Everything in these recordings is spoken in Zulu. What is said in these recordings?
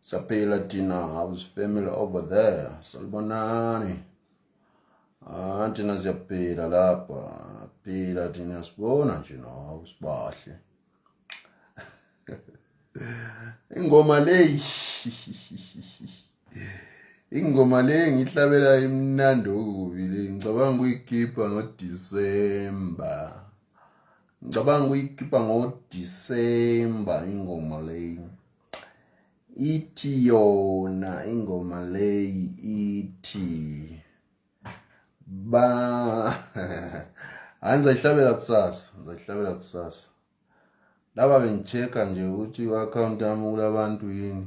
Saphila thina house family over there. Salibonani. Ah thina siyaphila lapha. Phila thina sibona nje no sibahle. Ingoma leyi. Ingoma leyi ngihlabela imnandi okubi le. Ngicabanga ukuyikhipha ngo December. Ngicabanga ukuyikhipha ngo December ingoma leyi. ithi yona ingoma leyi ithi ba hayi ngizayihlabela kusasa ngizayihlabela kusasa laba bengichecka nje ukuthi i-akhawunti yami kulabantu yini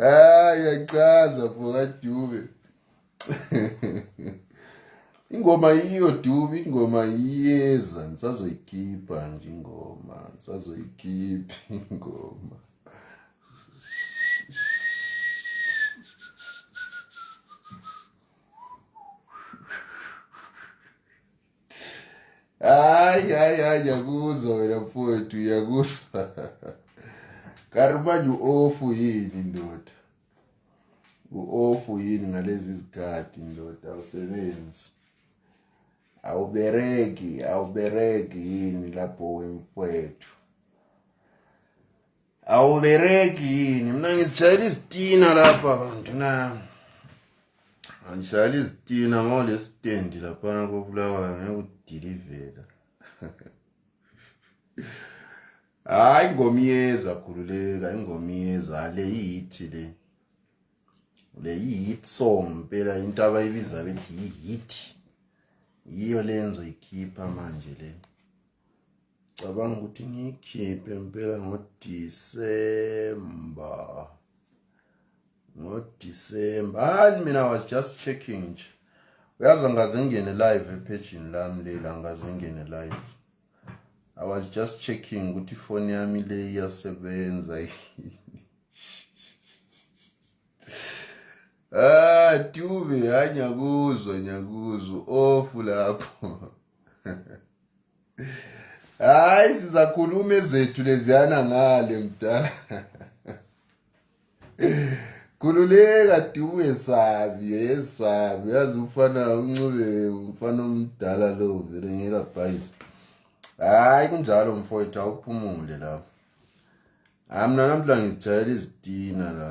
Ah, yachaza mfoka Dube. ingoma yiyo Dube, ingoma iyeza, ngisazoyikhipha nje ingoma, ngisazoyikhipha ingoma. hayi hayi hayi yakuzwa wena mfowethu yakuzwa karimanje u-ofu yini ndoda u-ofu yini ngalezi zikhathi ndoda awusebenzi awubereki awubereki yini lapho wemfowethu awubereki yini mina ngizishayela izitina lapha bantu na angishayela izitina ngole stendi laphana kobulawayo ngeke udilivela hayi ingoma iyeza khululeka ingoma iyeza le yithi le le yi-hit song mpela into abayibiza bethi yi-hit yiyo le enzoyikhipha manje le cabanga ukuthi ngiyikhiphe impela ngodisemba ngodisemba hayi mina was just checking nje uyazi angaze ngene live ephejini lami leli angaze ngene live i was just checking ukuthi ifoni yami le iyasebenza ah tube hayi nyakuzwa nyakuzwa ofu lapho hayi sizakhuluma ezethu leziyana ngale mdala khululeka dubu yesabi yesabi yazi umfana uncube umfana omdala lo vele ngekabhayisi hayi kunjalo mfowethu awuphumule lapho hayi mna namhla ngizijayela izitina la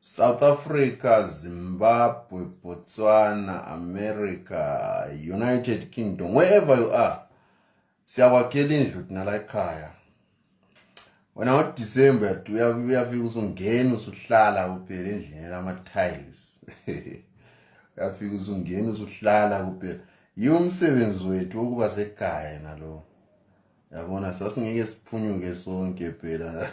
South Africa, Zimbabwe, Botswana, America, United Kingdom, wherever you are, siyakwakhela indlu thina la ekhaya. Wena ngoDecember uyafika usungena usuhlala kuphela endlini lama-tiles. Uyafika usungena usuhlala kuphela. Yiwo umsebenzi wethu wokuba sekhaya nalo. Yabona sasingeke siphunyuke sonke phela.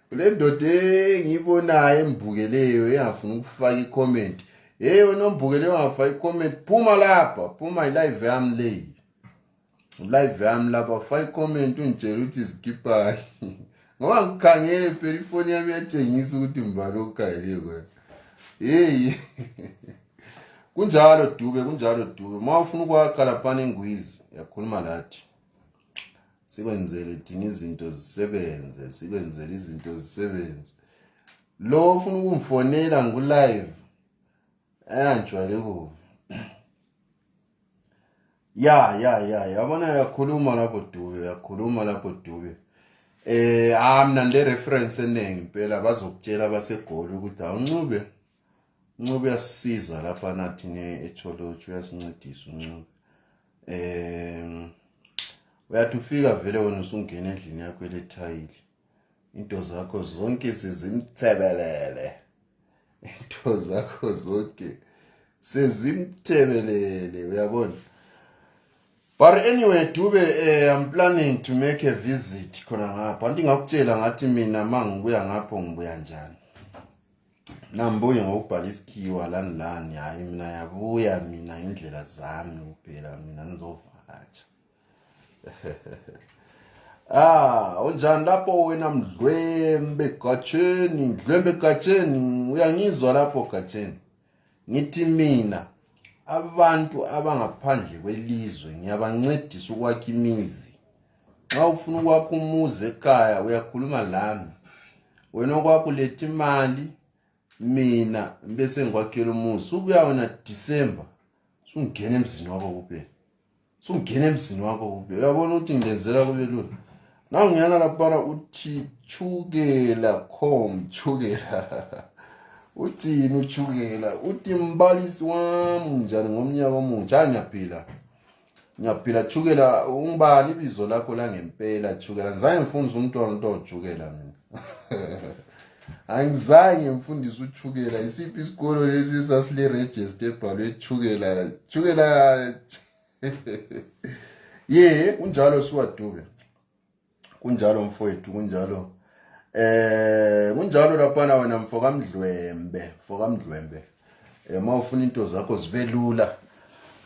kulendoda engiyibonayo embukeleyo engafuna ukufaka icomment hey wena ombukeleyo ongafaka icomment phuma lapha phuma ilive yami leyi live yami lapha faka icomment ungitshela ukuthi zikipani ngoba ngikhangele phela ifoni yami yatshengisa ukuthi mbani okhayeliyo kona heyi kunjalo dube kunjalo dube uma ufuna ukwakha laphana engwizi yakhuluma lathi sikwenzele thina izinto zisebenze sikwenzele izinto zisebenze lo ufuna ukungifonela ngikulive ayangijwayele kubi ya ya ya yabona uyakhuluma lapho dube uyakhuluma lapho dube eh ah mina le reference eningi impela bazokutshela basegoli ukuthi awuncube uncube uyasisiza lapha nathi ne echolotsho uyasincedisa uncube um uyathi ufika vele wena usungena endlini yakho elethayile into zakho zonke sizimthebelele into zakho zonke sezimthebelele uyabona but anyway dube eh, i'm planning to make a visit khona ngapha anti ngakutshela ngathi mina mangibuya ngapho ngibuya njani Nambuye ngokubhala isikhiwa lani lani hayi mina yabuya mina indlela zami kuphela mina ngizovakatsha Ah, unjani lapho wena mdlwembe gatsheni, mdlwembe gatsheni, uyangizwa lapho gatsheni. Ngithi mina abantu abangaphandle kwelizwe ngiyabancedisa ukwakha imizi. nxa ufuna ukwakha umuzi ekhaya uyakhuluma lami wena okwakho letha imali mina ngibe sengikwakhela umuzi subuya wena december sungena emzini wakho kuphela sungena emzini wakho kuphela uyabona ukuthi ngilenzela kube lula na ngiyana laphana uthi chukela com chukela uthini uchukela uthi mbalisi wami njani ngomnyaka omutsha angiyaphila Ngiyaphila Chukela ungibani ibizo lakho la ngempela Chukela ngizange ngifundise umntwana into ojukela mina angizange mfundise uthukela isiphi isikolo lesi sasile register ebhalwe thukela thukela ye unjalo siwadube kunjalo mfowethu kunjalo eh kunjalo laphana wena mfo kamdlwembe mfo kamdlwembe eh mawufuna into zakho zibe lula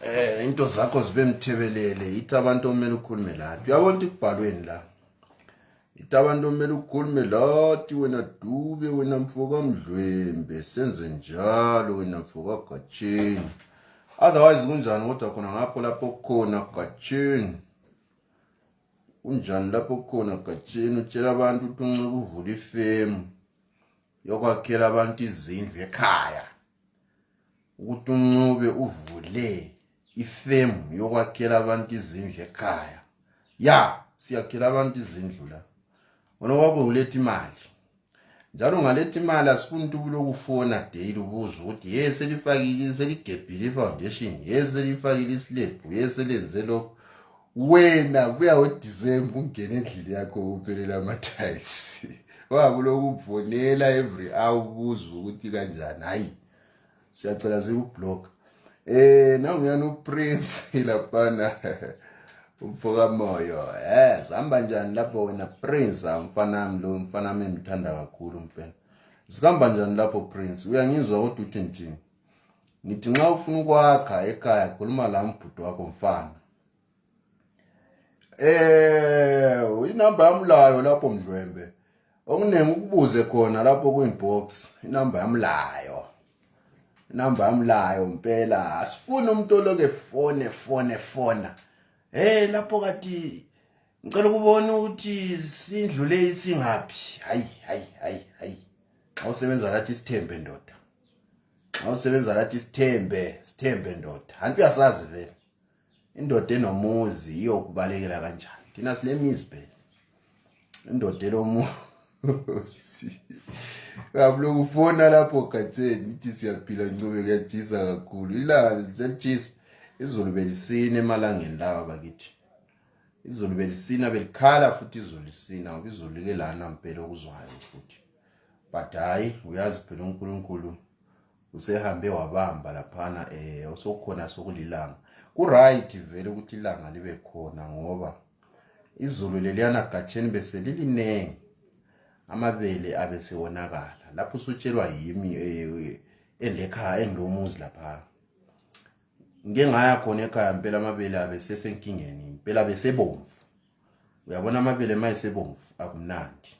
eh into zakho zibe mthebelele yithi abantu omele ukhulume lathi uyabona ukuthi kubhalweni la yithi abantu omele ukhulume lathi wena dube wena mfo kamdlwembe senze njalo wena mfo kagatsheni otherwise kunjani kodwa khona ngapho lapho khona gatsheni Kunjani lapho khona Gatsheni utshela abantu ukuthi unxiba uvula ifemu yokwakhela abantu izindlu ekhaya ukuthi uncube uvule ifemu yokwakhela abantu izindlu ekhaya ya siyakhela abantu izindlu la wona wabe uletha imali njalo ngaletha imali asifuni ukuthi ubulokufona daily ubuza ukuthi ye selifakile seligebhile i-foundation ye selifakile isilebhu ye selenze lokho wena kuya wedisemba ungena endlini yakho uphelela amathayisi wabuloku uvonela every hour ubuza ukuthi kanjani hhayi siyacela zikublock eh nangu yana uprince ilapana umfoka moyo yes hamba njani lapho wena prince amfana wami lo mfana wami ngithanda kakhulu mfana zikamba njani lapho prince uyangizwa kodwa uthi ngithini ngithi nxa ufuna ukwakha ekhaya khuluma la mbhuti wakho mfana Eh inamba yami layo lapho mdlwembe. Okuningi ukubuze khona lapho kuinbox inamba yami layo. Inamba yami layo impela asifuni umuntu oloke fone fone fona. Hey lapho kati ngicela ukubona ukuthi sindlule isingaphi. Hayi hayi hayi hayi. Xa usebenza lathi isithembe ndoda. Xa usebenza lathi isithembe, sithembe ndoda. Hantu uyasazi vele. indoda enomuzi iyokubalekela kanjani thina silemizi phela indoda enomuzi kabuloku ufona lapho gatheni ithi siyaphila ncube kuyajisa kakhulu ilanga lisejisa izulu belisina emalangeni lawa bakithi izulu belisina belikhala futhi izulu lisina ngoba izulu like lana mpela okuzwayo futhi but hhayi uyazi phela unkulunkulu usehambe wabamba laphana eh osokhona sokulilanga kuright vele ukuthi ilanga libe khona ngoba izulu leliyana gatsheni bese liliningi amabele abesewonakala lapho usutshelwa yimi eh, endekhaya engilomuzi lapha ngike ngaya khona ekhaya impela amabele abesesenkingeni impela besebomvu uyabona amabele mayesebomvu akumnandi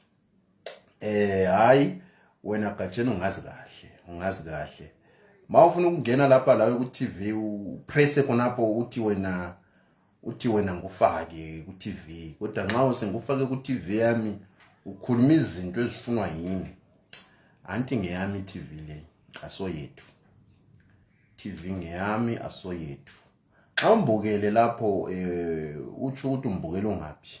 eh hayi wena Gatsheni ungazi kahle ungazi kahle mawufuna ukungena lapha la ku TV upresse khonapho uthi wena uthi wena ngufake ku TV kodwa nxa usengufake ku TV yami ukhuluma izinto ezifunwa yini anti ngeyami TV le asoyethu TV ngeyami asoyethu xa umbukele lapho eh utsho ukuthi umbukela ungaphi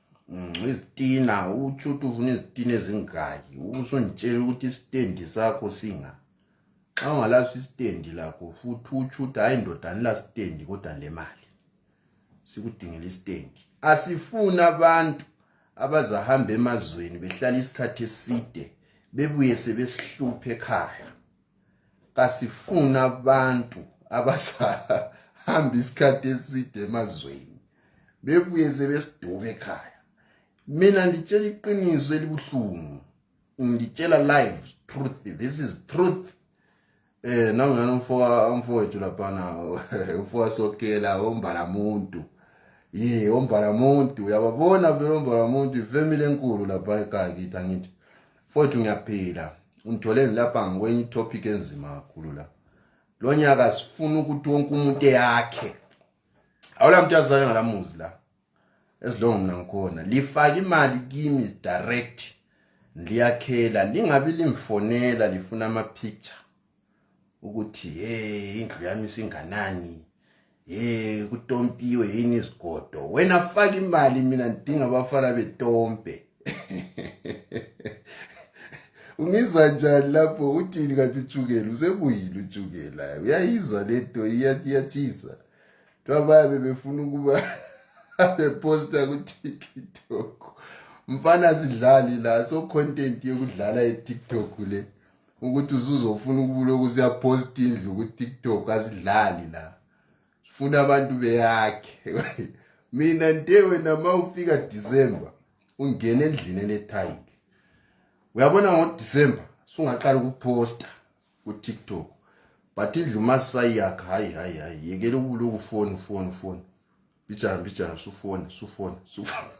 Mm, izitina uthi uthi ufuna izitina ezingaki usungitshela ukuthi isitendi sakho singa xa ungalaso isitendi lakho futhi uthi uthi hayi ndoda anila sitendi kodwa le mali sikudingela isitendi asifuni abantu abazahamba emazweni behlala isikhathi eside bebuye sebesihluphe ekhaya kasifuna abantu abasahamba isikhathi eside emazweni bebuye sebesidume ekhaya mina nditshela iqiniso elibuhlungu ngitshela live truth this is truth eh nangani umfoka umfowethu laphana umfoka sokela ombala muntu ye ombala muntu uyababona vele ombala muntu ifamily enkulu lapha ekhaya kithi angithi Mfowethu ngiyaphila ungitholeni lapha ngikwenye itopic enzima kakhulu la lo nyaka sifuna ukuthi wonke umuntu eyakhe awula muntu azale ngalamuzi la ezilongo mina ngikhona lifake imali kimi direct liyakhela lingabi limfonela lifuna ama picture ukuthi hey indlu yami singanani hey kutompiwe yini izigodo wena faka imali mina ngidinga abafana betompe ungizwa njani lapho uthini kanti utshukela usebuyile utshukela uyayizwa le nto iyathisa kuthiwa bayabe befuna ukuba beposta kutiktok mfana sidlali la so content yokudlala etiktok le ukuthi usuzofuna ukuloku siyaphosta indlu ku-tiktok asidlali la sifuna abantu beyakhe mina nte wena ma ufika disemba ungena endlini enethayile uyabona ngodisemba sungaqala ukuphosta ku-tiktok but indlu masayiyakha hayi hayi hayi yekela ukuloku foni foni foni Mbijana, mbijana, sufone, sufone, sufone.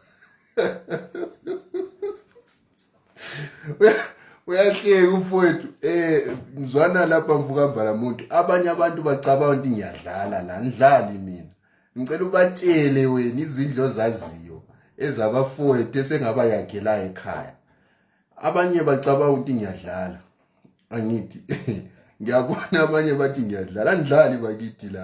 uyahleka umfowethu eh mzwana lapha mvukambala muntu abanye abantu bacabanga ukuthi ngiyadlala la ngidlali mina ngicela ubatshele wena izindlo zaziyo ezabafowethu esengaba yakhela ekhaya abanye bacabanga ukuthi ngiyadlala angithi ngiyabona abanye bathi ngiyadlala andidlali bakithi la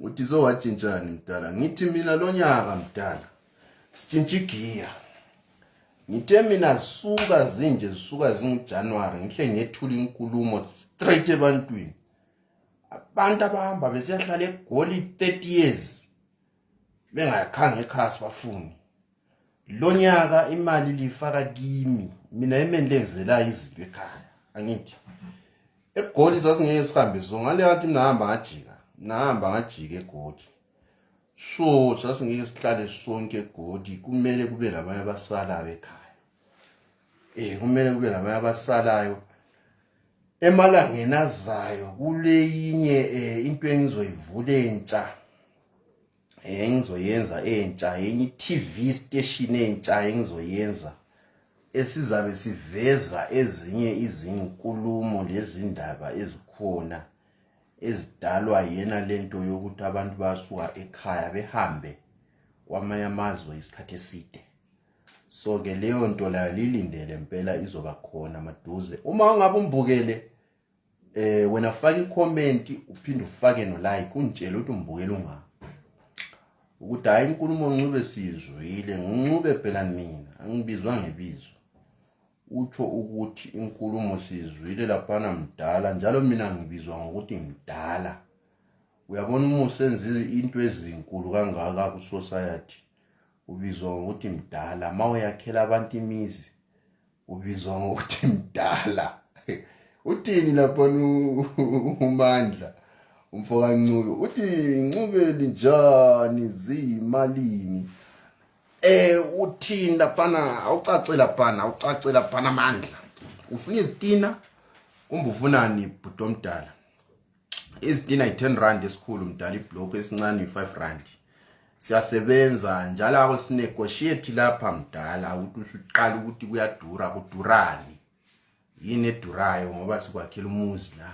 Utizo watshintshani mdala? Ngithi mina lonyaka mdala. Sitshintsha igiya. Ngithe mina zisuka zinje zisuka zinguJanuary ngihle ngethula inkulumo straight ebantwini. Abantu abahamba besiyahlala egoli 30 years bengayakhange ekhasi bafuni. lonyaka imali lifaka kimi mina imeni lenzela izinto ekhaya angithi egoli sasingeke sihambe so ngale yathi mina hamba ngajika mina hamba ngajika egoli so sasingeke sihlale sonke egoli kumele kube labanye abasalayo ekhaya eh kumele kube labanye abasalayo emalangeni azayo kuleyinye eh, into engizoyivula entsha engizoyenza entsha enye i-TV station entsha engizoyenza esizabe siveza ezinye izinkulumo lezindaba ezikhona ezidalwa yena lento yokuthi abantu basuka ekhaya behambe kwamanye amazwe isikhathi eside so ke leyo nto layo lilindele impela izoba khona maduze uma ungabe umbukele eh wena faka icomment uphinde ufake no like ungitshela ukuthi umbukela ungaka ukuthi hayi inkulumo ncube sizwile ngincube phela mina angibizwa ngebizo utsho ukuthi inkulumo sizwile laphana mdala njalo mina ngibizwa ngokuthi mdala uyabona uma usenza into ezinkulu kangaka ku society ubizwa ngokuthi mdala mawe yakhela abantu imizi ubizwa ngokuthi mdala uthini lapha umandla umfo kaNcube uthi Ncube linjani ziyimalini eh uthini lapha awucace lapha awucace lapha amandla ufuna izitina kumbe ufunani bhuti omdala izitina yi-10 rand esikhulu mdala ibhlokhu esincane yi-5 rand siyasebenza njalo ako sinegotiate lapha mdala ukuthi uqala ukuthi kuyadura kudurani yini edurayo ngoba sikwakhela umuzi la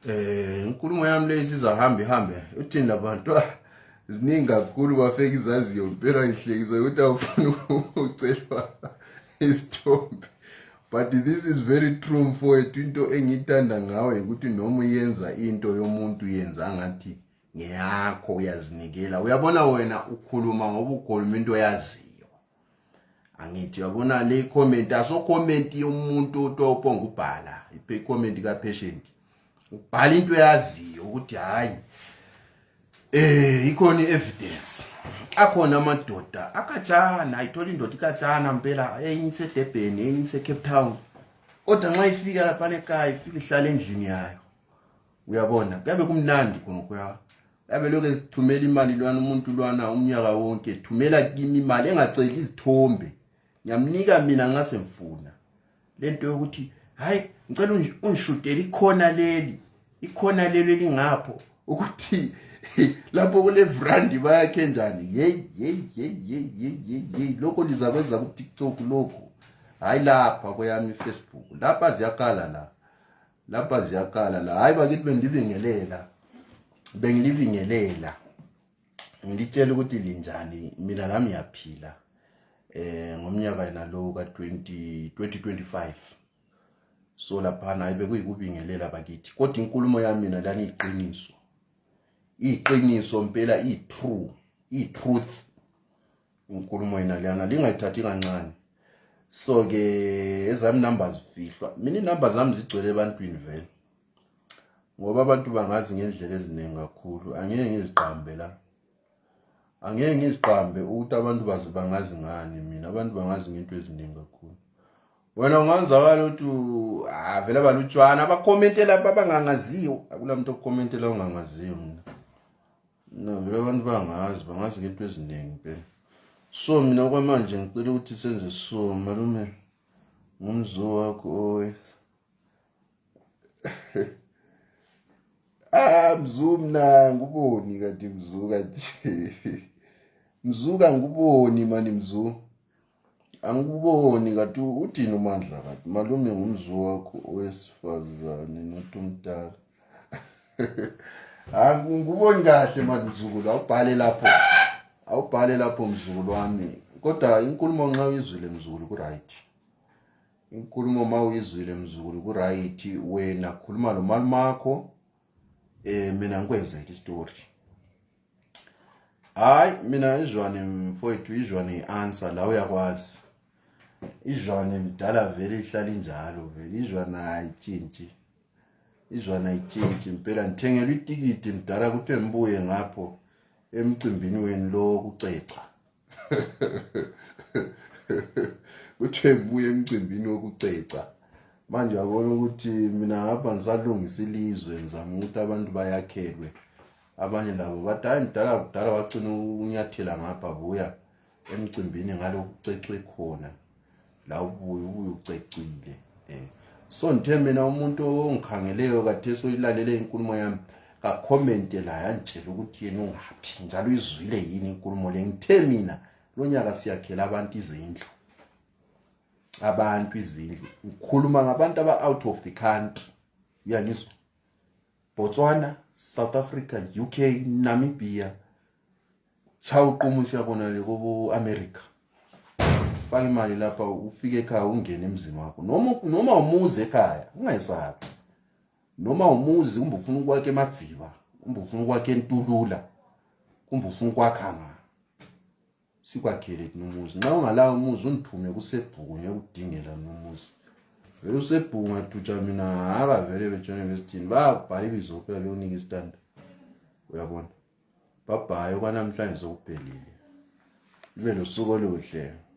eh inkulumo yami le isizahamba ihambe uthini labantu ah, ziningi kakhulu bafeka izaziyo mpela ngihlekisa ukuthi awufuni ukucelwa isithombe but this is very true mfowethu into engiyithanda ngawe ukuthi noma uyenza into yomuntu yenza ngathi ngeyakho uyazinikela uyabona wena ukhuluma ngoba ukhuluma into oyaziyo angithi uyabona le comment aso comment yomuntu otopo ngubhala i comment ka patient ubhala into eyaziyo ukuthi hayi eh ikhona evidence akhona amadoda akatshana ayithola indoda ikatshana mpela enye isedebheni enye isecape town kodwa nxa ifika laphana ekhaya ifike ihlala endlini yayo uyabona kuyabe kumnandi khona kuya yabe lokhu ezithumela imali lwana umuntu lwana umnyaka wonke thumela kimi imali engaceli izithombe ngiyamnika mina nxa semfuna lento yokuthi hayi ngicela ungishudele ikhona leli ikhona leli elingapho ukuthi lapho kule brand bayakhe njani hey hey hey hey hey hey lokho liza kwenza ku TikTok lokho hayi lapha kweyami Facebook lapha ziyakala la lapha ziyakala la hayi bakithi bendibingelela bengilibingelela ngitshela ukuthi linjani mina nami ngiyaphila eh ngomnyaka yena lo ka 20 2025 so lapha naye bekuyikubingelela bakithi kodwa inkulumo yami mina lani iqiniso iqiniso impela i true i truth inkulumo yena lana lingayithathi kancane so ke ezami numbers fihlwa mina inamba zami zigcwele ebantwini vele ngoba abantu bangazi ngendlela eziningi kakhulu angeke ngiziqambe la angeke ngiziqambe ukuthi abantu bazi bangazi ngani mina abantu bangazi ngento eziningi kakhulu wena ungazakala ukuthi avele ah, balutshwana abakhomentela abangangaziyo akunamuntu okhomentela ongangaziyo mina no vele abantu bangazi bangazi ngento eziningi phela so mina kwamanje ngicela ukuthi senze so malume ngumzo wakho owe ah mzu mna nguboni kanti mzu kanti mzu kanguboni mani mzu angikuboni kanti udini umandla kanti malume ngumzu wakho owesifazane not umdala angikuboni ah, kahle mani mzukulu awubhale lapho awubhale lapho mzukulu wami kodwa inkulumo nxa uyizwile mzukulu ku-right inkulumo uma uyizwile mzukulu ku-right wena khuluma lo malumakho um eh, mina ngikwenzele isitori hhayi mina izwane mfowethu izwane i-answer la uyakwazi izwane mdala vele ihlala injalo vele izwane ayitshintshi izwane ayitshintshi impela ngithengelwa itikiti mdala kuthiwe ngibuye ngapho emcimbini wenu lo kuceca kuthiwe ngibuye emcimbini wokuceca manje yabona ukuthi mina ngapha ngisalungisa ilizwe ngizama ukuthi abantu bayakhelwe abanye labo bathi hayi mdala kudala wagcina unyathela ngapha buya emcimbini ngalokucecwe khona la ubuye ubuye ucecile um so ngithe mina umuntu ongikhangeleyo kathesi oyilalele inkulumo yami kakhomente la yangitshela ukuthi yena ungaphi njalo izwile yini inkulumo le ngithe mina lo nyaka siyakhela abantu izindlu abantu izindlu ngikhuluma ngabantu aba-out of the country uyangizwa botswana south africa uk namibia cha uquma usiya kona le kobo America faka imali lapha ufike ekhaya ungene emzini wakho noma noma umuzi ekhaya ungayisabi noma umuzi kumbe ufuna ukwakhe emadziba kumbe ufuna ukwakhe entulula kumbe ufuna ukwakha nga sikwakhele kunomuzi nxa ungalawo umuzi undithume kusebhuku ngekudingela nomuzi vele usebhuku ngathutsha mina haka vele betshone besithini babhala ibizo kuphela beyonika isitanda uyabona Bye bye okwanamhlanje sokuphelile. Ibe nosuku oluhle.